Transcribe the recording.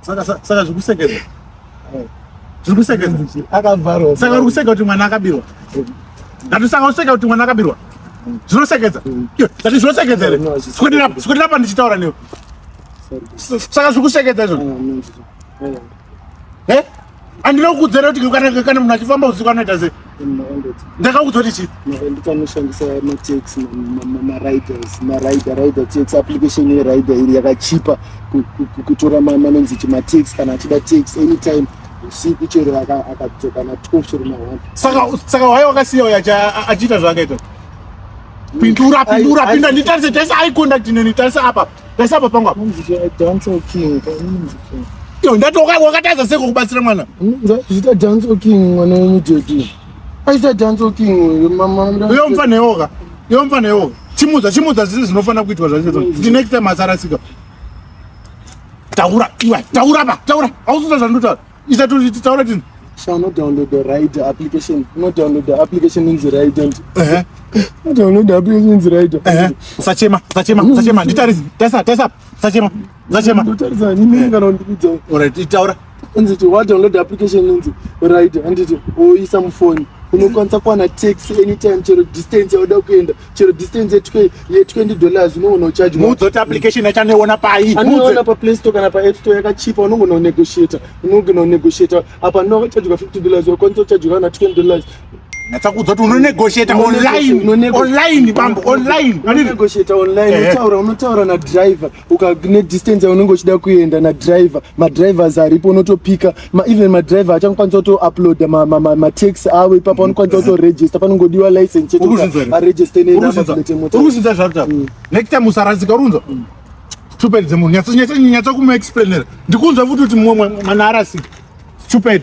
saka saka zvikusekeza zvikusekeza akavharwa saka uri kuseka kuti mwana akabirwa ndati saka useka kuti mwana akabirwa zvinosekeza ndati zvinosekeza here sikundira pa ndichitaura newe saka zvikusekeza izvo andina kukudzera kuti kana kana munhu achifamba usiku anoita sei ndakakudzwa kuti chii ndikanoshandisa matex mariders marider rider tax application yerider iri yakachipa kutora manonzi chi matex kana achida tax anytime usiku chero akadzoka na twelve chero na one saka waye wakasiya uyo achiita zvaakaita pindura pindura pinda nditarise taisa eye contact neni taisa apa Pesa apa pangu apa. Dance king. Yo ndatoka wakatadza seko kubatsira mwana. Zita dance king mwana wenyu JD. Aita dance king mama. Yo mfana yoga. Yo mfana yoga. Chimudza chimudza zvinhu zvinofana kuitwa zvacho. The next time asarasika. Taura iwa taura ba taura. Ausuza zvandotaura. ichatotaura tini so unodownload the right application unodownload the application inzi right and unodownload the application inzi right usachema usachema usachema nditarise taisa taisa usachema usachema ndotarisa nyimini kana ndikudza alright itaura inzi ti wadownload the application inzi right and it oisa mufoni unokwanisa kuwana tax anytime chero distance yauda kuenda chero distance ye 20 dollars unogona kucharge mudzoti application yacho anoiona pai anoiona paplay store kana paapp store yakachipa unogona kunegotiata unogona kunegotiata apa ndinoa kucharge ka 50 dollars wakwanisa kucharge kana 20 dollars natsakuudza kuti unonegotiata onlineonline bambo onlinenegotiata online eh. unotaura unotaura nadriver ukane distance yaunenge uchida kuenda nadriver madrivers aripo unotopika ma, even madriver achakwanisa kutouploada matax ma, ma, ma avo ipapa unokwanisa kutoregister panongodiwa license chetoaregister neurikuzvidza zvakuta mm. next time usarasika urunza mm. stupid dzemunhu nyatsa kumuexplainera ndikunzwa futi kuti mumwe mwana arasika stupid